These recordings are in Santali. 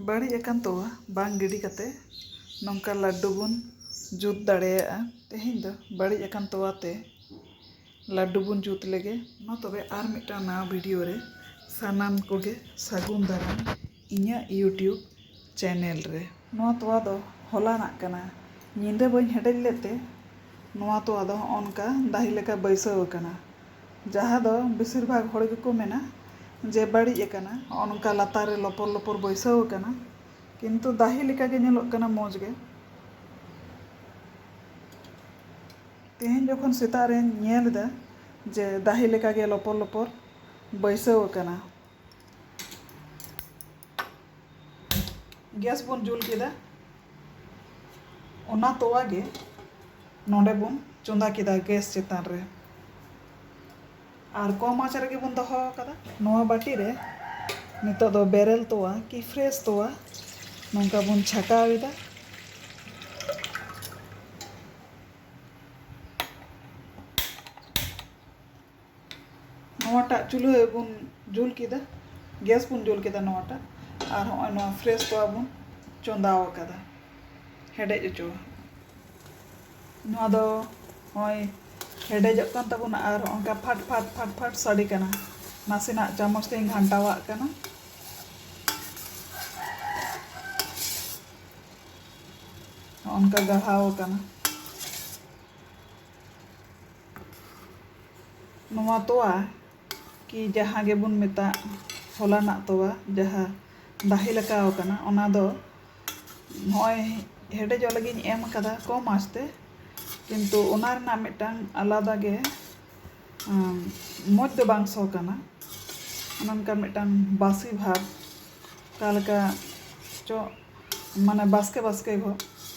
ᱵᱟᱹᱲᱤᱡ ᱟᱠᱟᱱ ᱛᱚᱣᱟ ᱵᱟᱝ ᱜᱤᱰᱤ ᱠᱟᱛᱮ ᱱᱚᱝᱠᱟ ᱞᱟᱹᱰᱩ ᱵᱚᱱ ᱡᱩᱛ ᱫᱟᱲᱮᱭᱟᱜᱼᱟ ᱛᱮᱦᱮᱧ ᱫᱚ ᱵᱟᱹᱲᱤᱡ ᱟᱠᱟᱱ ᱛᱚᱣᱟ ᱛᱮ ᱞᱟᱹᱰᱩ ᱵᱚᱱ ᱡᱩᱛ ᱞᱮᱜᱮ ᱢᱟ ᱛᱚᱵᱮ ᱟᱨ ᱢᱤᱫᱴᱟᱝ ᱱᱟᱣᱟ ᱵᱷᱤᱰᱤᱭᱳ ᱨᱮ ᱥᱟᱱᱟᱢ ᱠᱚᱜᱮ ᱥᱟᱹᱜᱩᱱ ᱫᱟᱨᱟᱢ ᱤᱧᱟᱹᱜ ᱭᱩᱴᱭᱩᱵᱽ ᱪᱮᱱᱮᱞ ᱨᱮ᱾ ᱱᱚᱣᱟ ᱛᱚᱣᱟ ᱫᱚ ᱦᱚᱞᱟᱱᱟᱜ ᱠᱟᱱᱟ᱾ ᱧᱤᱫᱟᱹ ᱵᱟᱹᱧ ᱦᱮᱰᱮᱡ ᱞᱮᱫ ᱛᱮ ᱱᱚᱣᱟ ᱛᱚᱣᱟ ᱫᱚ ᱦᱚᱸᱜᱼᱚ ᱱᱚᱝᱠᱟ ᱫᱟᱦᱤ ᱞᱮᱠᱟ ᱵᱟᱹᱭᱥᱟᱹᱣ ᱟᱠᱟᱱᱟ᱾ ᱡᱟᱦᱟᱸ ᱫᱚ ᱵᱮᱥᱤᱨ ᱵᱷᱟᱜᱽ ᱦᱚᱲ ᱜᱮᱠᱚ ᱢᱮᱱᱟ ᱡᱮ ᱵᱟᱹᱲᱤᱡ ᱟᱠᱟᱱᱟ᱾ ᱦᱚᱸᱜᱼᱚ ᱱᱚᱝᱠᱟ ᱞᱟᱛᱟᱨ ᱨᱮ ᱞᱚᱯᱚᱨ ᱞᱚᱯᱚᱨ ᱵᱟᱹᱭᱥᱟᱹᱣ ᱟᱠᱟᱱᱟ᱾ ᱠᱤᱱᱛᱩ ᱫᱟᱦᱤ ᱞᱮᱠᱟ ᱜᱮ ᱧᱮᱞᱚᱜ ᱠᱟᱱᱟ ᱢᱚᱡᱽ ᱜᱮ᱾ ᱛᱮᱦᱮᱧ ᱡᱚᱠᱷᱚᱱ ᱥᱮᱛᱟᱜ ᱨᱮᱧ ᱧᱮᱞ ᱮᱫᱟ ᱡᱮ ᱫᱟᱦᱤ ᱞᱮᱠᱟ ᱜᱮ ᱞᱚᱯᱚᱨ ᱞᱚᱯᱚᱨ ᱵᱟᱹᱭᱥᱟᱹᱣ ᱟᱠᱟᱱᱟ᱾ ᱜᱮᱥ ᱵᱚᱱ ᱡᱩᱞ ᱠᱮᱫᱟ ᱚᱱᱟ ᱛᱚᱣᱟ ᱜᱮ ᱱᱚᱰᱮ ᱵᱚᱱ ᱪᱚᱸᱫᱟ ᱠᱮᱫᱟ ᱜᱮᱥ ᱪᱮᱛᱟᱱ ᱨᱮ ᱟᱨ ᱠᱚᱢ ᱟᱸᱪ ᱨᱮᱜᱮ ᱵᱚᱱ ᱫᱚᱦᱚ ᱟᱠᱟᱫᱟ ᱱᱚᱣᱟ ᱵᱟᱹᱴᱤ ᱨᱮ ᱱᱤᱛᱚᱜ ᱫᱚ ᱵᱮᱨᱮᱞ ᱛᱚᱣᱟ ᱠᱤ ᱯᱷᱨᱮᱥ ᱛᱚᱣᱟ ᱱᱚᱝᱠᱟ ᱵᱚᱱ ᱪᱷᱟᱠᱟᱣ ᱮᱫᱟ ᱱᱚᱣᱟᱴᱟᱜ ᱪᱩᱞᱦᱟᱹ ᱵᱚᱱ ᱡᱩᱞ ᱠᱮᱫᱟ ᱜᱮᱥ ᱵᱚᱱ ᱡᱩᱞ ᱠᱮᱫᱟ ᱱᱚᱣᱟᱴᱟᱜ ᱟᱨ ᱦᱚᱸᱜᱼᱚᱭ ᱱᱚᱣᱟ ᱯᱷᱨᱮᱥ ᱛᱚᱣᱟ ᱵᱚᱱ ᱪᱚᱸᱫᱟ ᱟᱠᱟᱫᱟ ᱦᱮᱰᱮᱡ ᱦᱚᱪᱚ ᱱᱚᱣᱟ ᱫᱚ ᱦᱚᱸᱜᱼᱚᱭ ᱦᱮᱰᱮᱡᱚᱜ ᱠᱟᱱ ᱛᱟᱵᱚᱱᱟ ᱟᱨ ᱚᱱᱠᱟ ᱯᱷᱟᱴ ᱯᱷᱟᱴ ᱯᱷᱟᱴ ᱯᱷᱟᱴ ᱥᱟᱰᱮ ᱠᱟᱱᱟ ᱱᱟᱥᱮᱱᱟᱜ ᱪᱟᱢᱚᱪ ᱛᱮᱧ ᱜᱷᱟᱱᱴᱟᱣᱟᱜ ᱠᱟᱱᱟ ᱚᱱᱠᱟ ᱜᱟᱲᱦᱟᱣ ᱟᱠᱟᱱᱟ ᱱᱚᱣᱟ ᱛᱚᱣᱟ ᱠᱤ ᱡᱟᱦᱟᱸ ᱜᱮᱵᱚᱱ ᱢᱮᱛᱟᱜ ᱦᱚᱞᱟᱱᱟᱜ ᱛᱚᱣᱟ ᱡᱟᱦᱟᱸ ᱫᱟᱦᱮ ᱞᱮᱠᱟ ᱟᱠᱟᱱᱟ ᱚᱱᱟ ᱫᱚ ᱱᱚᱜᱼᱚᱭ ᱦᱮᱰᱮᱡᱚᱜ ᱞᱟᱹᱜᱤᱫ ᱤᱧ ᱮᱢ ᱟᱠᱟᱫᱟ ᱠᱚᱢ ᱟᱸᱪ ᱛᱮ ᱠᱤᱱᱛᱩ ᱚᱱᱟ ᱨᱮᱱᱟᱜ ᱢᱤᱫᱴᱟᱝ ᱟᱞᱟᱫᱟ ᱜᱮ ᱢᱚᱡᱽ ᱫᱚ ᱵᱟᱝ ᱥᱚ ᱠᱟᱱᱟ ᱚᱱᱮ ᱚᱱᱠᱟ ᱢᱤᱫᱴᱟᱝ ᱵᱟᱥᱤ ᱵᱷᱟᱵᱽ ᱚᱠᱟ ᱞᱮᱠᱟ ᱪᱚ ᱢᱟᱱᱮ ᱵᱟᱥᱠᱮ ᱵᱟᱥᱠᱮ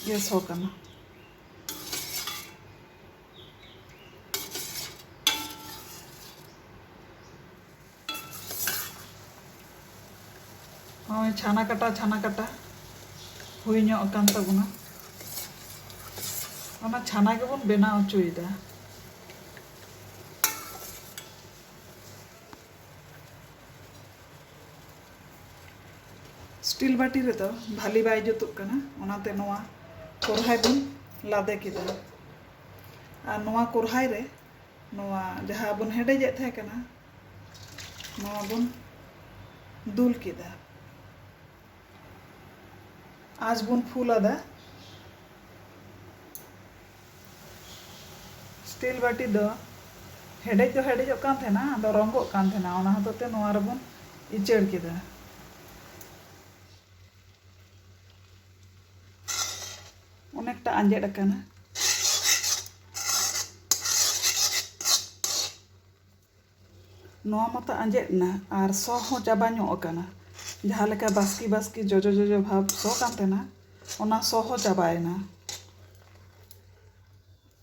ᱜᱮ ᱥᱚ ᱠᱟᱱᱟ ᱱᱚᱜᱼᱚᱭ ᱪᱷᱟᱱᱟ ᱠᱟᱴᱟ ᱪᱷᱟᱱᱟ ᱠᱟᱴᱟ ᱦᱩᱭ ᱧᱚᱜ ᱟᱠᱟᱱ ᱛᱟᱵᱚᱱᱟ ᱚᱱᱟ ᱪᱷᱟᱱᱟ ᱜᱮᱵᱚᱱ ᱵᱮᱱᱟᱣ ᱦᱚᱪᱚᱭᱮᱫᱟ ᱥᱴᱤᱞ ᱵᱟᱹᱴᱤ ᱨᱮᱫᱚ ᱵᱷᱟᱞᱤ ᱵᱟᱭ ᱡᱩᱛᱩᱜ ᱠᱟᱱᱟ ᱚᱱᱟᱛᱮ ᱱᱚᱣᱟ ᱠᱚᱨᱦᱟᱭ ᱵᱚᱱ ᱞᱟᱫᱮ ᱠᱮᱫᱟ ᱟᱨ ᱱᱚᱣᱟ ᱠᱚᱨᱦᱟᱭ ᱨᱮ ᱱᱚᱣᱟ ᱡᱟᱦᱟᱸ ᱵᱚᱱ ᱦᱮᱰᱮᱡᱮᱫ ᱛᱟᱦᱮᱸ ᱠᱟᱱᱟ ᱱᱚᱣᱟ ᱵᱚᱱ ᱫᱩᱞ ᱠᱮᱫᱟ ᱟᱸᱪ ᱵᱚᱱ ᱯᱷᱩᱞ ᱟᱫᱟ ᱥᱴᱤᱞ ᱵᱟᱹᱴᱤ ᱫᱚ ᱦᱮᱰᱮᱡ ᱫᱚ ᱦᱮᱰᱮᱡᱚᱜ ᱠᱟᱱ ᱛᱟᱦᱮᱱᱟ ᱟᱫᱚ ᱨᱚᱝᱜᱚᱜ ᱠᱟᱱ ᱛᱟᱦᱮᱱᱟ ᱚᱱᱟ ᱦᱚᱛᱮᱡ ᱛᱮ ᱱᱚᱣᱟ ᱨᱮᱵᱚᱱ ᱤᱪᱟᱹᱲ ᱠᱮᱫᱟ ᱚᱱᱮᱠᱴᱟ ᱟᱸᱡᱮᱫ ᱟᱠᱟᱱᱟ ᱱᱚᱣᱟ ᱢᱟᱛᱚ ᱟᱸᱡᱮᱫ ᱮᱱᱟ ᱟᱨ ᱥᱚ ᱦᱚᱸ ᱪᱟᱵᱟ ᱧᱚᱜ ᱟᱠᱟᱱᱟ ᱡᱟᱦᱟᱸ ᱞᱮᱠᱟ ᱵᱟᱥᱠᱮ ᱵᱟᱥᱠᱮ ᱡᱚᱡᱚ ᱡᱚᱡᱚ ᱵᱷᱟᱵᱽ ᱥᱚ ᱠᱟᱱ ᱛᱟᱦᱮᱱᱟ ᱚᱱᱟ ᱥᱚ ᱦᱚᱸ ᱪᱟᱵᱟᱭᱮᱱᱟ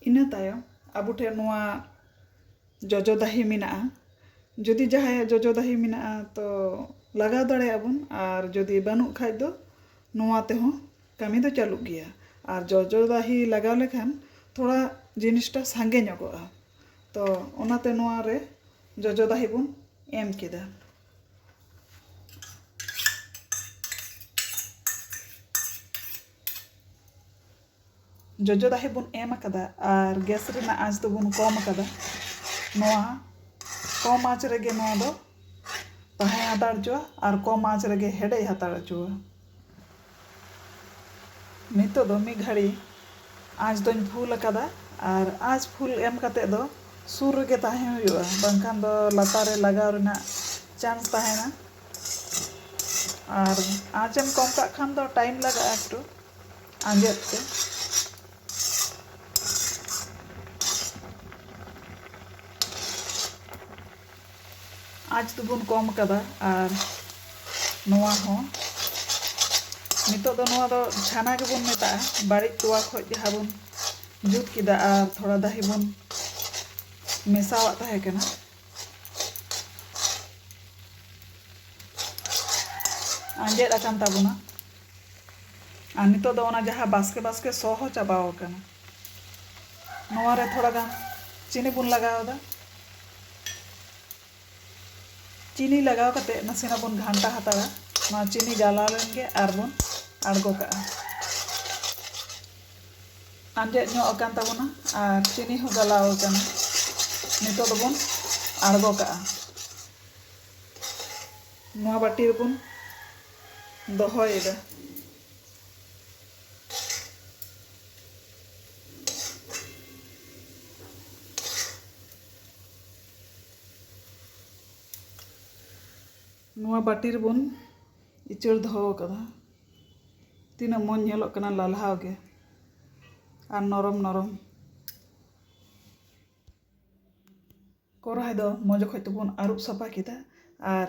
ᱤᱱᱟᱹ ᱛᱟᱭᱚᱢ ᱟᱵᱚ ᱴᱷᱮᱱ ᱱᱚᱣᱟ ᱡᱚᱡᱚ ᱫᱟᱦᱤ ᱢᱮᱱᱟᱜᱼᱟ ᱡᱩᱫᱤ ᱡᱟᱦᱟᱸᱭᱟᱜ ᱡᱚᱡᱚ ᱫᱟᱦᱤ ᱢᱮᱱᱟᱜᱼᱟ ᱛᱚ ᱞᱟᱜᱟᱣ ᱫᱟᱲᱮᱭᱟᱜᱼᱟ ᱵᱚᱱ ᱟᱨ ᱡᱩᱫᱤ ᱵᱟᱹᱱᱩᱜ ᱠᱷᱟᱱ ᱫᱚ ᱱᱚᱣᱟ ᱛᱮᱦᱚᱸ ᱠᱟᱹᱢᱤ ᱫᱚ ᱪᱟᱹᱞᱩᱜ ᱜᱮᱭᱟ ᱟᱨ ᱡᱚᱡᱚ ᱫᱟᱦᱤ ᱞᱟᱜᱟᱣ ᱞᱮᱠᱷᱟᱱ ᱛᱷᱚᱲᱟ ᱡᱤᱱᱤᱥᱴᱟ ᱥᱟᱸᱜᱮ ᱧᱚᱜᱚᱜᱼᱟ ᱛᱚ ᱚᱱᱟᱛᱮ ᱱᱚᱣᱟ ᱨᱮ ᱡᱚᱡᱚ ᱫᱟᱦᱮ ᱵᱚᱱ ᱮᱢ ᱠᱮᱫᱟ ᱡᱚᱡᱚ ᱫᱟᱦᱮ ᱵᱚᱱ ᱮᱢ ᱟᱠᱟᱫᱟ ᱟᱨ ᱜᱮᱥ ᱨᱮᱱᱟᱜ ᱟᱸᱪ ᱫᱚᱵᱚᱱ ᱠᱚᱢ ᱟᱠᱟᱫᱟ ᱱᱚᱣᱟ ᱠᱚᱢ ᱟᱸᱪ ᱨᱮᱜᱮ ᱱᱚᱣᱟ ᱫᱚ ᱛᱟᱦᱮᱸ ᱦᱟᱛᱟᱲ ᱦᱚᱪᱚᱣᱟᱜᱼᱟ ᱟᱨ ᱠᱚᱢ ᱟᱸᱪ ᱨᱮᱜᱮ ᱦᱮᱰᱮᱡ ᱦᱟᱛᱟᱲ ᱦᱚᱪᱚᱣᱟᱜᱼᱟ ᱱᱤᱛᱚᱜ ᱫᱚ ᱢᱤᱫ ᱜᱷᱟᱹᱲᱤ ᱟᱸᱪ ᱫᱚᱧ ᱯᱷᱩᱞ ᱟᱠᱟᱫᱟ ᱟᱨ ᱟᱸᱪ ᱯᱷᱩᱞ ᱮᱢ ᱠᱟᱛᱮ ᱫᱚ ᱥᱩᱨ ᱨᱮᱜᱮ ᱛᱟᱦᱮᱸ ᱦᱩᱭᱩᱜᱼᱟ ᱵᱟᱝᱠᱷᱟᱱ ᱫᱚ ᱞᱟᱛᱟᱨ ᱨᱮ ᱞᱟᱜᱟᱣ ᱨᱮᱱᱟᱜ ᱪᱟᱱᱥ ᱛᱟᱦᱮᱱᱟ ᱟᱨ ᱟᱸᱪ ᱮᱢ ᱠᱚᱢ ᱠᱟᱜ ᱠᱷᱟᱱ ᱫᱚ ᱴᱟᱭᱤᱢ ᱞᱟᱜᱟᱜᱼᱟ ᱮᱠᱴᱩ ᱟᱸᱡᱮᱫ ᱛᱮ ᱟᱸᱪ ᱫᱚᱵᱚᱱ ᱠᱚᱢ ᱟᱠᱟᱫᱟ ᱟᱨ ᱱᱚᱣᱟ ᱦᱚᱸ ᱱᱤᱛᱚᱜ ᱫᱚ ᱱᱚᱣᱟ ᱫᱚ ᱪᱷᱟᱱᱟ ᱜᱮᱵᱚᱱ ᱢᱮᱛᱟᱜᱼᱟ ᱵᱟᱹᱲᱤᱡ ᱛᱚᱣᱟ ᱠᱷᱚᱡ ᱡᱟᱦᱟᱸ ᱵᱚᱱ ᱡᱩᱛ ᱠᱮᱫᱟ ᱟᱨ ᱛᱷᱚᱲᱟ ᱫᱟᱦᱮ ᱵᱚᱱ ᱢᱮᱥᱟᱣᱟᱜ ᱛᱟᱦᱮᱸ ᱠᱟᱱᱟ ᱟᱸᱡᱮᱫ ᱟᱠᱟᱱ ᱛᱟᱵᱚᱱᱟ ᱟᱨ ᱱᱤᱛᱚᱜ ᱫᱚ ᱚᱱᱟ ᱡᱟᱦᱟᱸ ᱵᱟᱥᱠᱮ ᱵᱟᱥᱠᱮ ᱥᱚ ᱦᱚᱸ ᱪᱟᱵᱟᱣ ᱟᱠᱟᱱᱟ ᱱᱚᱣᱟ ᱨᱮ ᱛᱷᱚᱲᱟ ᱜᱟᱱ ᱪᱤᱱᱤ ᱵᱚᱱ ᱞᱟᱜᱟᱣ ᱮᱫᱟ ᱪᱤᱱᱤ ᱞᱟᱜᱟᱣ ᱠᱟᱛᱮ ᱱᱟᱥᱮᱱᱟᱜ ᱵᱚᱱ ᱜᱷᱟᱱᱴᱟ ᱦᱟᱛᱟᱲᱟ ᱱᱚᱣᱟ ᱪᱤᱱᱤ ᱜᱟᱞᱟᱣ ᱞᱮᱱ ᱜᱮ ᱟᱨ ᱵᱚᱱ ᱟᱬᱜᱚ ᱠᱟᱜᱼᱟ ᱟᱸᱡᱮᱫ ᱧᱚᱜ ᱟᱠᱟᱱ ᱛᱟᱵᱚᱱᱟ ᱟᱨ ᱪᱤᱱᱤ ᱦᱚᱸ ᱜᱟᱞᱟᱣ ᱟᱠᱟᱱᱟ ᱱᱤᱛᱚᱜ ᱫᱚᱵᱚᱱ ᱟᱬᱜᱚ ᱠᱟᱜᱼᱟ ᱱᱚᱣᱟ ᱵᱟᱹᱴᱤ ᱨᱮᱵᱚᱱ ᱫᱚᱦᱚᱭᱮᱫᱟ ᱱᱚᱣᱟ ᱵᱟᱹᱴᱤ ᱨᱮᱵᱚᱱ ᱤᱪᱟᱹᱲ ᱫᱚᱦᱚ ᱟᱠᱟᱫᱟ ᱛᱤᱱᱟᱹᱜ ᱢᱚᱡᱽ ᱧᱮᱞᱚᱜ ᱠᱟᱱᱟ ᱞᱟᱞᱦᱟᱣ ᱜᱮ ᱟᱨ ᱱᱚᱨᱚᱢ ᱱᱚᱨᱚᱢ ᱠᱚᱨᱦᱟᱭ ᱫᱚ ᱢᱚᱡᱽ ᱚᱠᱚᱡ ᱛᱮᱵᱚᱱ ᱟᱹᱨᱩᱵ ᱥᱟᱯᱷᱟ ᱠᱮᱫᱟ ᱟᱨ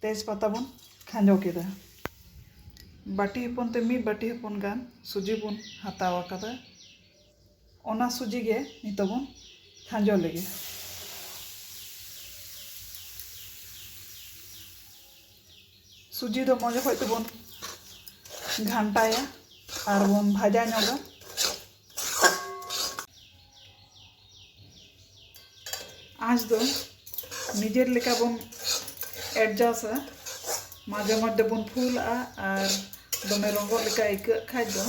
ᱛᱮᱡᱽ ᱯᱟᱛᱟ ᱵᱚᱱ ᱠᱷᱟᱸᱡᱚ ᱠᱮᱫᱟ᱾ ᱵᱟᱹᱴᱤ ᱦᱚᱯᱚᱱ ᱛᱮ ᱢᱤᱫ ᱵᱟᱹᱴᱤ ᱦᱚᱯᱚᱱ ᱜᱟᱱ ᱥᱩᱡᱤ ᱵᱚᱱ ᱦᱟᱛᱟᱣ ᱟᱠᱟᱫᱟ᱾ ᱚᱱᱟ ᱥᱩᱡᱤ ᱜᱮ ᱱᱤᱛᱚᱜ ᱵᱚᱱ ᱠᱷᱟᱸᱡᱚ ᱞᱮᱜᱮ᱾ ᱥᱩᱡᱤ ᱫᱚ ᱢᱚᱡᱽ ᱚᱠᱚᱡ ᱛᱮᱵᱚᱱ ᱜᱷᱟᱱᱴᱟᱭᱟ ᱟᱨ ᱵᱚᱱ ᱵᱷᱟᱡᱟ ᱧᱚᱜᱟ᱾ ᱟᱸᱡᱽ ᱫᱚ ᱱᱤᱡᱮᱨ ᱞᱮᱠᱟ ᱵᱚᱱ ᱮᱰᱡᱟᱥᱟ ᱢᱟᱡᱷᱮ ᱢᱚᱫᱽᱫᱷᱮ ᱵᱚᱱ ᱯᱷᱩᱞᱟᱜᱼᱟ ᱟᱨ ᱫᱚᱢᱮ ᱨᱚᱸᱜᱚᱜ ᱞᱮᱠᱟ ᱟᱹᱭᱠᱟᱹᱜ ᱠᱷᱟᱡ ᱫᱚ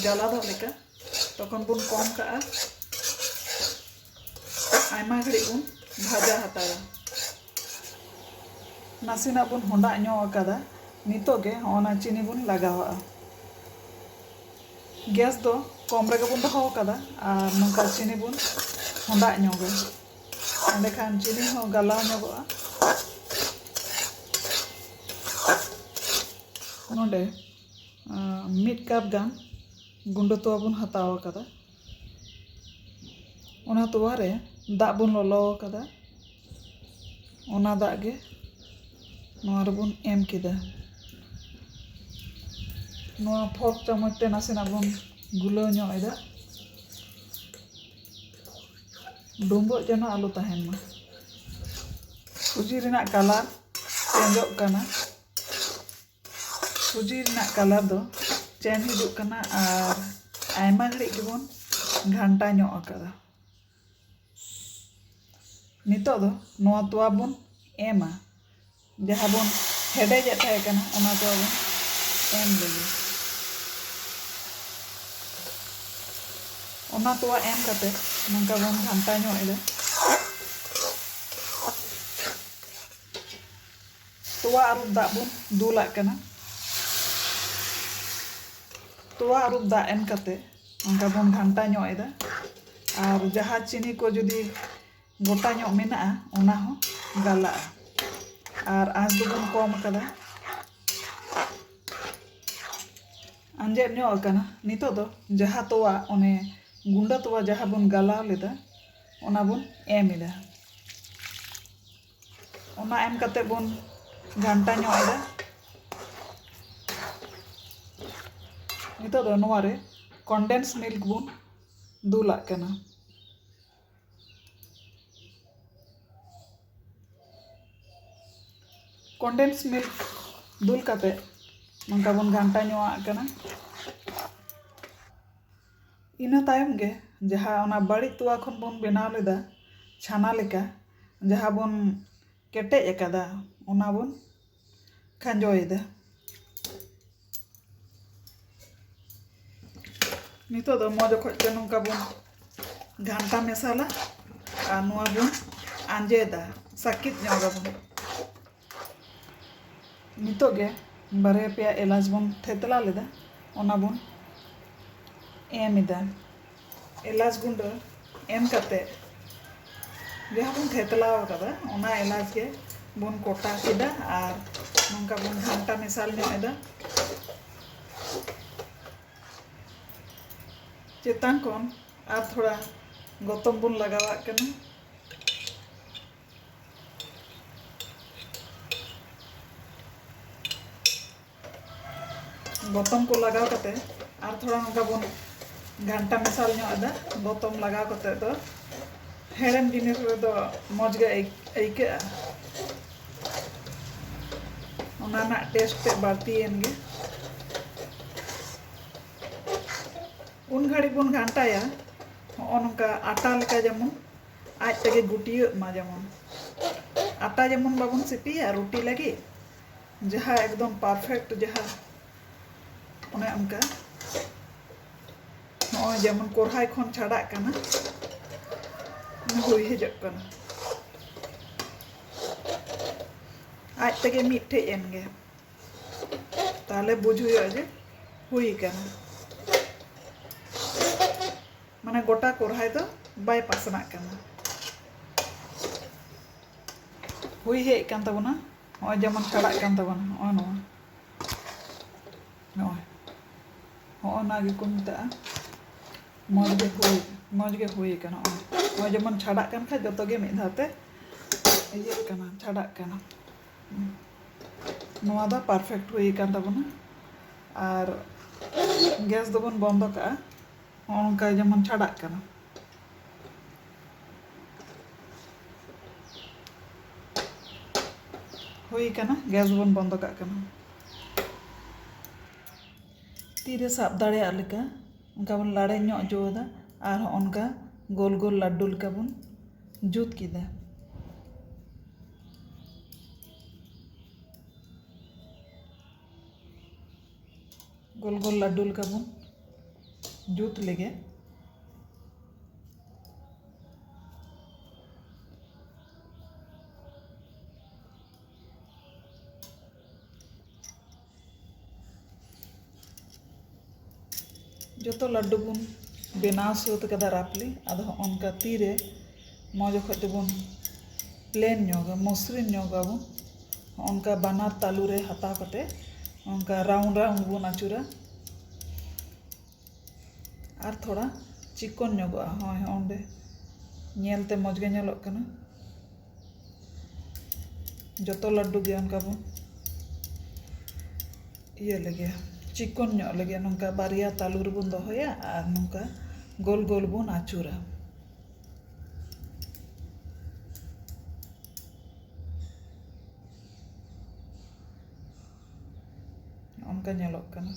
ᱡᱟᱞᱟᱫᱚᱜ ᱞᱮᱠᱟ ᱛᱚᱠᱷᱚᱱ ᱵᱚᱱ ᱠᱚᱢ ᱠᱟᱜᱼᱟ ᱟᱭᱢᱟ ᱜᱷᱟᱹᱲᱤᱡ ᱵᱚᱱ ᱵᱷᱟᱡᱟ ᱦᱟᱛᱟᱲᱟ ᱱᱟᱥᱮᱱᱟᱜ ᱵᱚᱱ ᱦᱚᱸᱰᱟᱜ ᱧᱚᱜ ᱟᱠᱟᱫᱟ ᱱᱤᱛᱚᱜ ᱜᱮ ᱦᱚᱸᱜᱼᱚᱱᱟ ᱪᱤᱱᱤ ᱵᱚᱱ ᱞᱟᱜᱟᱣᱟᱜᱼᱟ ᱜᱮᱥ ᱫᱚ ᱠᱚᱢ ᱨᱮᱜᱮ ᱵᱚᱱ ᱫᱚᱦᱚ ᱟᱠᱟᱫᱟ ᱟᱨ ᱱᱚᱝᱠᱟ ᱪᱤᱱᱤ ᱵᱚᱱ ᱦᱚᱸᱰᱟᱜ ᱧᱚᱜᱟ ᱮᱸᱰᱮᱠᱷᱟᱱ ᱪᱤᱱᱤ ᱦᱚᱸ ᱜᱟᱞᱟᱣ ᱧᱚᱜᱚᱜᱼᱟ ᱱᱚᱰᱮ ᱢᱤᱫ ᱠᱟᱯ ᱜᱟᱱ ᱜᱩᱸᱰᱟᱹ ᱛᱚᱣᱟ ᱵᱚᱱ ᱦᱟᱛᱟᱣ ᱟᱠᱟᱫᱟ ᱚᱱᱟ ᱛᱚᱣᱟ ᱨᱮ ᱫᱟᱜ ᱵᱚᱱ ᱞᱚᱞᱚ ᱟᱠᱟᱫᱟ ᱚᱱᱟ ᱫᱟᱜ ᱜᱮ ᱱᱚᱣᱟ ᱨᱮᱵᱚᱱ ᱮᱢ ᱠᱮᱫᱟ ᱱᱚᱣᱟ ᱯᱷᱚᱨᱠ ᱪᱟᱢᱚᱪ ᱛᱮ ᱱᱟᱥᱮᱱᱟᱜ ᱵᱚᱱ ᱜᱩᱞᱟᱹᱣ ᱧᱚᱜ ᱮᱫᱟ ᱰᱩᱸᱵᱩᱜ ᱡᱮᱱᱚ ᱟᱞᱚ ᱛᱟᱦᱮᱱ ᱢᱟ ᱥᱩᱡᱤ ᱨᱮᱱᱟᱜ ᱠᱟᱞᱟᱨ ᱪᱮᱧᱡᱚᱜ ᱠᱟᱱᱟ ᱥᱩᱡᱤ ᱨᱮᱱᱟᱜ ᱠᱟᱞᱟᱨ ᱫᱚ ᱪᱮᱱ ᱦᱤᱡᱩᱜ ᱠᱟᱱᱟ ᱟᱨ ᱟᱭᱢᱟ ᱜᱷᱟᱹᱲᱤᱡ ᱜᱮᱵᱚᱱ ᱜᱷᱟᱱᱴᱟ ᱧᱚᱜ ᱟᱠᱟᱫᱟ ᱱᱤᱛᱚᱜ ᱫᱚ ᱱᱚᱣᱟ ᱛᱚᱣᱟ ᱵᱚᱱ ᱮᱢᱟ ᱡᱟᱦᱟᱸ ᱵᱚᱱ ᱦᱮᱰᱮᱡᱮᱫ ᱛᱟᱦᱮᱸ ᱠᱟᱱᱟ ᱚᱱᱟ ᱛᱚᱣᱟ ᱵᱚᱱ ᱮᱢ ᱞᱮᱜᱮ ᱚᱱᱟ ᱛᱚᱣᱟ ᱮᱢ ᱠᱟᱛᱮ ᱱᱚᱝᱠᱟ ᱵᱚᱱ ᱜᱷᱟᱱᱴᱟ ᱧᱚᱜ ᱮᱫᱟ ᱛᱚᱣᱟ ᱟᱹᱨᱩᱵ ᱫᱟᱜ ᱵᱚᱱ ᱫᱩᱞᱟᱜ ᱠᱟᱱᱟ᱾ ᱛᱚᱣᱟ ᱟᱹᱨᱩᱵ ᱫᱟᱜ ᱮᱢ ᱠᱟᱛᱮ ᱚᱱᱠᱟ ᱵᱚᱱ ᱜᱷᱟᱱᱴᱟ ᱧᱚᱜ ᱮᱫᱟ ᱟᱨ ᱡᱟᱦᱟᱸ ᱪᱤᱱᱤ ᱠᱚ ᱡᱩᱫᱤ ᱜᱚᱴᱟ ᱧᱚᱜ ᱢᱮᱱᱟᱜᱼᱟ ᱚᱱᱟ ᱦᱚᱸ ᱜᱟᱞᱟᱜᱼᱟ ᱟᱨ ᱟᱸᱥ ᱫᱚᱵᱚᱱ ᱠᱚᱢ ᱟᱠᱟᱫᱟ᱾ ᱟᱸᱡᱮᱫ ᱧᱚᱜ ᱟᱠᱟᱱᱟ ᱱᱤᱛᱚᱜ ᱫᱚ ᱡᱟᱦᱟᱸ ᱛᱚᱣᱟ ᱚᱱᱮ ᱜᱩᱸᱰᱟᱹ ᱛᱚᱣᱟ ᱡᱟᱦᱟᱸ ᱵᱚᱱ ᱜᱟᱞᱟᱣ ᱞᱮᱫᱟ ᱚᱱᱟ ᱵᱚᱱ ᱮᱢ ᱮᱫᱟ᱾ ᱚᱱᱟ ᱮᱢ ᱠᱟᱛᱮ ᱵᱚᱱ ᱜᱷᱟᱱᱴᱟ ᱧᱚᱜ ᱮᱫᱟ ᱱᱤᱛᱚᱜ ᱫᱚ ᱱᱚᱣᱟ ᱨᱮ ᱠᱚᱱᱰᱮᱱᱥ ᱢᱤᱞᱠ ᱵᱚᱱ ᱫᱩᱞᱟᱜ ᱠᱟᱱᱟ ᱠᱚᱱᱰᱮᱱᱥ ᱢᱤᱞᱠ ᱫᱩᱞ ᱠᱟᱛᱮ ᱱᱚᱝᱠᱟ ᱵᱚᱱ ᱜᱷᱟᱱᱴᱟ ᱧᱚᱜ ᱟᱜ ᱠᱟᱱᱟ ᱤᱱᱟᱹ ᱛᱟᱭᱚᱢ ᱜᱮ ᱡᱟᱦᱟᱸ ᱚᱱᱟ ᱵᱟᱹᱲᱤᱡ ᱛᱚᱣᱟ ᱠᱷᱚᱱ ᱵᱚᱱ ᱵᱮᱱᱟᱣ ᱞᱮᱫᱟ ᱪᱷᱟᱱᱟ ᱞᱮᱠᱟ ᱡᱟᱦᱟᱸ ᱵᱚᱱ ᱠᱮᱴᱮᱡ ᱟᱠᱟᱫᱟ ᱚᱱᱟ ᱵᱚᱱ ᱠᱷᱟᱸᱡᱚᱭᱮᱫᱟ ᱱᱤᱛᱚᱜ ᱫᱚ ᱢᱚᱡᱽ ᱚᱠᱚᱡ ᱛᱮ ᱱᱚᱝᱠᱟ ᱵᱚᱱ ᱜᱷᱟᱱᱴᱟ ᱢᱮᱥᱟᱞᱟ ᱟᱨ ᱱᱚᱣᱟ ᱵᱚᱱ ᱟᱸᱡᱮᱫᱟ ᱥᱟᱹᱠᱤᱡ ᱧᱚᱜᱟᱵᱚᱱ ᱱᱤᱛᱚᱜ ᱜᱮ ᱵᱟᱨᱭᱟ ᱯᱮᱭᱟ ᱮᱞᱟᱪ ᱵᱚᱱ ᱛᱷᱮᱛᱞᱟ ᱞᱮᱫᱟ ᱚᱱᱟ ᱵᱚᱱ ᱮᱢ ᱮᱫᱟ ᱮᱞᱟᱪ ᱜᱩᱸᱰᱟᱹ ᱮᱢ ᱠᱟᱛᱮ ᱡᱟᱦᱟᱸ ᱵᱚᱱ ᱛᱷᱮᱛᱞᱟ ᱟᱠᱟᱫᱟ ᱚᱱᱟ ᱮᱞᱟᱪ ᱜᱮ ᱵᱚᱱ ᱠᱚᱴᱟ ᱠᱮᱫᱟ ᱟᱨ ᱱᱚᱝᱠᱟ ᱵᱚᱱ ᱜᱷᱟᱱᱴᱟ ᱢᱮᱥᱟᱞ ᱧᱚᱜ ᱮᱫᱟ ᱪᱮᱛᱟᱱ ᱠᱷᱚᱱ ᱟᱨ ᱛᱷᱚᱲᱟ ᱜᱚᱛᱚᱢ ᱵᱚᱱ ᱞᱟᱜᱟᱣᱟᱜ ᱠᱟᱱᱟ ᱜᱚᱛᱚᱢ ᱠᱚ ᱞᱟᱜᱟᱣ ᱠᱟᱛᱮ ᱟᱨ ᱛᱷᱚᱲᱟ ᱱᱚᱝᱠᱟ ᱵᱚᱱ ᱜᱷᱟᱱᱴᱟ ᱢᱮᱥᱟᱞ ᱧᱚᱜ ᱮᱫᱟ ᱜᱚᱛᱚᱢ ᱞᱟᱜᱟᱣ ᱠᱟᱛᱮ ᱫᱚ ᱦᱮᱲᱮᱢ ᱡᱤᱱᱤᱥ ᱨᱮᱫᱚ ᱢᱚᱡᱽ ᱜᱮ ᱟᱹᱭᱠᱟᱹᱜᱼᱟ ᱚᱱᱟ ᱨᱮᱱᱟᱜ ᱴᱮᱥᱴ ᱛᱮ ᱵᱟᱹᱲᱛᱤᱭᱮᱱ ᱜᱮ ᱩᱱ ᱜᱷᱟᱹᱲᱤᱡ ᱵᱚᱱ ᱜᱷᱟᱱᱴᱟᱭᱟ ᱦᱚᱸᱜᱼᱚ ᱱᱚᱝᱠᱟ ᱟᱴᱟ ᱞᱮᱠᱟ ᱡᱮᱢᱚᱱ ᱟᱡ ᱛᱮᱜᱮ ᱜᱩᱴᱭᱟᱹᱜ ᱢᱟ ᱡᱮᱢᱚᱱ ᱟᱴᱟ ᱡᱮᱢᱚᱱ ᱵᱟᱵᱚᱱ ᱥᱤᱯᱤᱭᱟ ᱨᱩᱴᱤ ᱞᱟᱹᱜᱤᱫ ᱡᱟᱦᱟᱸ ᱮᱠᱫᱚᱢ ᱯᱟᱨᱯᱷᱮᱠᱴ ᱡᱟᱦᱟᱸ ᱚᱱᱮ ᱚᱱᱠᱟ ᱱᱚᱜᱼᱚᱭ ᱡᱮᱢᱚᱱ ᱠᱚᱨᱦᱟᱭ ᱠᱷᱚᱱ ᱪᱷᱟᱰᱟᱜ ᱠᱟᱱᱟ ᱦᱩᱭ ᱦᱤᱡᱩᱜ ᱠᱟᱱᱟ ᱟᱡ ᱛᱮᱜᱮ ᱢᱤᱫᱴᱷᱮᱡ ᱮᱱ ᱜᱮ ᱛᱟᱦᱞᱮ ᱵᱩᱡᱽ ᱦᱩᱭᱩᱜᱼᱟ ᱡᱮ ᱦᱩᱭ ᱠᱟᱱᱟ ᱢᱟᱱᱮ ᱜᱚᱴᱟ ᱠᱚᱨᱦᱟᱭ ᱫᱚ ᱵᱟᱭ ᱯᱟᱥᱱᱟᱜ ᱠᱟᱱᱟ ᱦᱩᱭ ᱦᱮᱡ ᱠᱟᱱ ᱛᱟᱵᱚᱱᱟ ᱱᱚᱜᱼᱚᱭ ᱡᱮᱢᱚᱱ ᱠᱟᱲᱟᱜ ᱠᱟᱱ ᱛᱟᱵᱚᱱᱟ ᱱᱚᱜᱼᱚ ᱱᱚᱣᱟ ᱱᱚᱜᱼᱚᱭ ᱦᱚᱜᱼᱚ ᱱᱚᱣᱟ ᱜᱮᱠᱚ ᱢᱮᱛᱟᱜᱼᱟ ᱢᱚᱡᱽ ᱜᱮ ᱦᱩᱭ ᱢᱚᱡᱽ ᱜᱮ ᱦᱩᱭ ᱠᱟᱱᱟ ᱱᱚᱜᱼᱚᱭ ᱱᱚᱜᱼᱚᱭ ᱡᱮᱢᱚᱱ ᱪᱷᱟᱰᱟᱜ ᱠᱟᱱ ᱠᱷᱟᱡ ᱡᱚᱛᱚ ᱜᱮ ᱢᱤᱫ ᱫᱷᱟᱣ ᱛᱮ ᱤᱭᱟᱹᱜ ᱠᱟᱱᱟ ᱪᱷᱟᱰᱟᱜ ᱠᱟᱱᱟ ᱱᱚᱣᱟ ᱫᱚ ᱯᱟᱨᱯᱷᱮᱠᱴ ᱦᱩᱭ ᱠᱟᱱ ᱛᱟᱵᱚᱱᱟ ᱟᱨ ᱜᱮᱥ ᱫᱚᱵᱚᱱ ᱵᱚᱱᱫᱚ ᱠᱟᱜᱼᱟ ᱦᱚᱸᱜᱼᱚ ᱱᱚᱝᱠᱟ ᱡᱮᱢᱚᱱ ᱪᱷᱟᱰᱟᱜ ᱠᱟᱱᱟ᱾ ᱦᱩᱭ ᱠᱟᱱᱟ ᱜᱮᱥ ᱵᱚᱱ ᱵᱚᱱᱫᱚ ᱠᱟᱜ ᱠᱟᱱᱟ᱾ ᱛᱤ ᱨᱮ ᱥᱟᱵ ᱫᱟᱲᱮᱭᱟᱜ ᱞᱮᱠᱟ ᱚᱱᱠᱟ ᱵᱚᱱ ᱞᱟᱲᱮᱡ ᱧᱚᱜ ᱦᱚᱪᱚ ᱟᱫᱟ ᱟᱨ ᱦᱚᱸᱜᱼᱚ ᱱᱚᱝᱠᱟ ᱜᱳᱞ ᱜᱳᱞ ᱞᱟᱹᱰᱩ ᱞᱮᱠᱟ ᱵᱚᱱ ᱡᱩᱛ ᱠᱮᱫᱟ᱾ ᱜᱳᱞ ᱜᱳᱞ ᱞᱟᱹᱰᱩ ᱞᱮᱠᱟ ᱵᱚᱱ ᱡᱩᱛ ᱞᱮᱜᱮ ᱡᱚᱛᱚ ᱞᱟᱹᱰᱩ ᱵᱚᱱ ᱵᱮᱱᱟᱣ ᱥᱟᱹᱛ ᱠᱟᱫᱟ ᱨᱟᱯᱷᱞᱤ ᱟᱫᱚ ᱦᱚᱸᱜᱼᱚ ᱱᱚᱝᱠᱟ ᱛᱤᱨᱮ ᱱᱚᱣᱟ ᱡᱚᱠᱷᱚᱡ ᱫᱚᱵᱚᱱ ᱯᱞᱮᱱ ᱧᱚᱜᱟ ᱢᱚᱥᱨᱤᱱ ᱧᱚᱜ ᱟᱵᱚᱱ ᱚᱱᱠᱟ ᱵᱟᱱᱟᱨ ᱛᱟᱞᱩ ᱨᱮ ᱦᱟᱛᱟᱣ ᱠᱟᱛᱮ ᱚᱱᱠᱟ ᱨᱟᱣᱩᱱᱰ ᱨᱟᱣᱩᱱᱰ ᱵᱚᱱ ᱟᱹᱪᱩᱨᱟ ᱟᱨ ᱛᱷᱚᱲᱟ ᱪᱤᱠᱚᱱ ᱧᱚᱜᱚᱜᱼᱟ ᱦᱚᱸᱜᱼᱚᱭ ᱦᱚᱸᱜᱼᱚᱸᱰᱮ ᱧᱮᱞᱛᱮ ᱢᱚᱡᱽ ᱜᱮ ᱧᱮᱞᱚᱜ ᱠᱟᱱᱟ ᱡᱚᱛᱚ ᱞᱟᱹᱰᱩ ᱜᱮ ᱚᱱᱠᱟ ᱵᱚᱱ ᱤᱭᱟᱹ ᱞᱮᱜᱮ ᱪᱤᱠᱚᱱ ᱧᱚᱜ ᱞᱮᱜᱮ ᱱᱚᱝᱠᱟ ᱵᱟᱨᱭᱟ ᱛᱟᱞᱩ ᱨᱮᱵᱚᱱ ᱫᱚᱦᱚᱭᱟ ᱟᱨ ᱱᱚᱝᱠᱟ ᱜᱳᱞ ᱜᱳᱞ ᱵᱚᱱ ᱟᱹᱪᱩᱨᱟ ᱱᱚᱝᱠᱟ ᱧᱮᱞᱚᱜ ᱠᱟᱱᱟ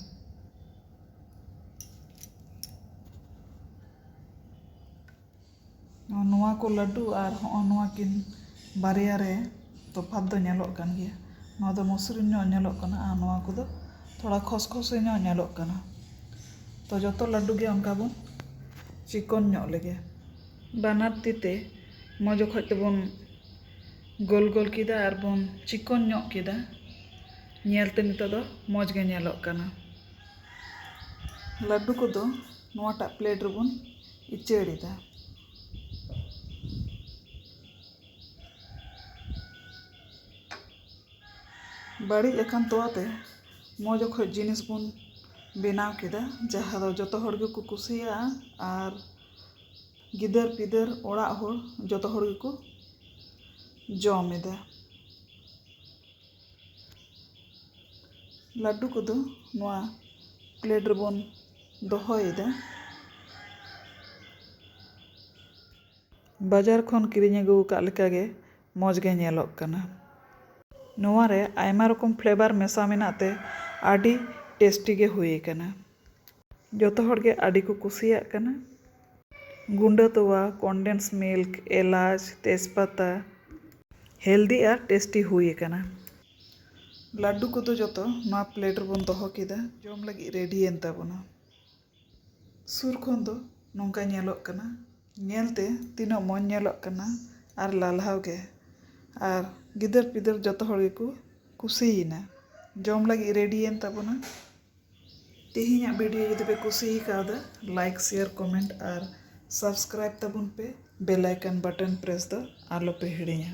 ᱱᱚᱣᱟ ᱠᱚ ᱞᱟᱹᱰᱩ ᱟᱨ ᱦᱚᱸᱜᱼᱚ ᱱᱚᱣᱟ ᱠᱤᱱ ᱵᱟᱨᱭᱟ ᱨᱮ ᱛᱚᱯᱷᱟᱛ ᱫᱚ ᱧᱮᱞᱚᱜ ᱠᱟᱱ ᱜᱮᱭᱟ ᱱᱚᱣᱟ ᱫᱚ ᱢᱚᱥᱨᱤᱱ ᱧᱚᱜ ᱧᱮᱞᱚᱜ ᱠᱟᱱᱟ ᱟᱨ ᱱᱚᱣᱟ ᱠᱚᱫᱚ ᱛᱷᱚᱲᱟ ᱠᱷᱚᱥᱠᱷᱚᱥᱮ ᱧᱚᱜ ᱧᱮᱞᱚᱜ ᱠᱟᱱᱟ ᱛᱚ ᱡᱚᱛᱚ ᱞᱟᱹᱰᱩ ᱜᱮ ᱚᱱᱠᱟ ᱵᱚᱱ ᱪᱤᱠᱚᱱ ᱧᱚᱜ ᱞᱮᱜᱮ ᱵᱟᱱᱟᱨ ᱛᱤ ᱛᱮ ᱢᱚᱡᱽ ᱚᱠᱚᱡ ᱛᱮᱵᱚᱱ ᱜᱳᱞ ᱜᱳᱞ ᱠᱮᱫᱟ ᱟᱨ ᱵᱚᱱ ᱪᱤᱠᱚᱱ ᱧᱚᱜ ᱠᱮᱫᱟ ᱧᱮᱞ ᱛᱮ ᱱᱤᱛᱚᱜ ᱫᱚ ᱢᱚᱡᱽ ᱜᱮ ᱧᱮᱞᱚᱜ ᱠᱟᱱᱟ ᱞᱟᱹᱰᱩ ᱠᱚᱫᱚ ᱱᱚᱣᱟᱴᱟᱜ ᱯᱞᱮᱴ ᱨᱮᱵᱚᱱ ᱩᱪᱟᱹᱲ ᱮᱫᱟ ᱵᱟᱹᱲᱤᱡ ᱟᱠᱟᱱ ᱛᱳᱣᱟ ᱛᱮ ᱢᱚᱡᱽ ᱚᱠᱚᱡ ᱡᱤᱱᱤᱥ ᱵᱚᱱ ᱵᱮᱱᱟᱣ ᱠᱮᱫᱟ ᱡᱟᱦᱟᱸ ᱫᱚ ᱡᱚᱛᱚ ᱦᱚᱲ ᱜᱮᱠᱚ ᱠᱩᱥᱤᱭᱟᱜᱼᱟ ᱟᱨ ᱜᱤᱫᱟᱹᱨ ᱯᱤᱫᱟᱹᱨ ᱚᱲᱟᱜ ᱦᱚᱲ ᱡᱚᱛᱚ ᱦᱚᱲ ᱜᱮᱠᱚ ᱡᱚᱢ ᱮᱫᱟ ᱞᱟᱹᱰᱩ ᱠᱚᱫᱚ ᱱᱚᱣᱟ ᱯᱞᱮᱴ ᱨᱮᱵᱚᱱ ᱫᱚᱦᱚᱭᱮᱫᱟ ᱵᱟᱡᱟᱨ ᱠᱷᱚᱱ ᱠᱤᱨᱤᱧ ᱟᱹᱜᱩ ᱟᱠᱟᱫ ᱞᱮᱠᱟ ᱜᱮ ᱢᱚᱡᱽ ᱜᱮ ᱧᱮᱞᱚᱜ ᱠᱟᱱᱟ᱾ ᱱᱚᱣᱟ ᱨᱮ ᱟᱭᱢᱟ ᱨᱚᱠᱚᱢ ᱯᱷᱞᱮᱵᱟᱨ ᱢᱮᱥᱟ ᱢᱮᱱᱟᱜ ᱛᱮ ᱟᱹᱰᱤ ᱴᱮᱥᱴᱤ ᱜᱮ ᱦᱩᱭ ᱟᱠᱟᱱᱟ᱾ ᱡᱚᱛᱚ ᱦᱚᱲ ᱜᱮ ᱟᱹᱰᱤ ᱠᱚ ᱠᱩᱥᱤᱭᱟᱜ ᱠᱟᱱᱟ᱾ ᱜᱩᱸᱰᱟᱹ ᱛᱚᱣᱟ, ᱠᱚᱱᱰᱮᱱᱥ ᱢᱤᱞᱠ, ᱮᱞᱟᱪ, ᱛᱮᱡᱽ ᱯᱟᱛᱟ᱾ ᱦᱮᱞᱫᱤ ᱟᱨ ᱴᱮᱥᱴᱤ ᱦᱩᱭ ᱟᱠᱟᱱᱟ᱾ ᱞᱟᱹᱰᱩ ᱠᱚᱫᱚ ᱡᱚᱛᱚ ᱱᱚᱣᱟ ᱯᱞᱮᱴ ᱨᱮᱵᱚᱱ ᱫᱚᱦᱚ ᱠᱮᱫᱟ᱾ ᱡᱚᱢ ᱞᱟᱹᱜᱤᱫ ᱨᱮᱰᱤ ᱮᱱ ᱛᱟᱵᱚᱱᱟ᱾ ᱥᱩᱨ ᱠᱷᱚᱱ ᱫᱚ ᱱᱚᱝᱠᱟ ᱧᱮᱞᱚᱜ ᱠᱟᱱᱟ ᱧᱮᱞ ᱛᱮ ᱛᱤᱱᱟᱹᱜ ᱢᱚᱡᱽ ᱧᱮᱞᱚᱜ ᱠᱟᱱᱟ ᱟᱨ ᱞᱟᱞᱦᱟᱣ ᱜᱮ ᱟᱨ ᱜᱤᱫᱟᱹᱨ ᱯᱤᱫᱟᱹᱨ ᱡᱚᱛᱚ ᱦᱚᱲ ᱜᱮᱠᱚ ᱠᱩᱥᱤᱭᱮᱱᱟ ᱡᱚᱢ ᱞᱟᱹᱜᱤᱫ ᱨᱮᱰᱤᱭᱮᱱ ᱛᱟᱵᱚᱱᱟ ᱛᱮᱦᱮᱧᱟᱜ ᱵᱷᱤᱰᱤᱭᱳ ᱡᱩᱫᱤ ᱯᱮ ᱠᱩᱥᱤ ᱠᱟᱣᱫᱟ ᱞᱟᱭᱤᱠ ᱥᱮᱭᱟᱨ ᱠᱚᱢᱮᱱᱴ ᱟᱨ ᱥᱟᱵᱥᱠᱨᱟᱭᱤᱵᱽ ᱛᱟᱵᱚᱱ ᱯᱮ ᱵᱮᱞ ᱟᱭᱠᱚᱱ ᱵᱟᱴᱚᱱ ᱯᱨᱮᱥ ᱫᱚ ᱟᱞᱚ ᱯᱮ ᱦᱤᱲᱤᱧᱟ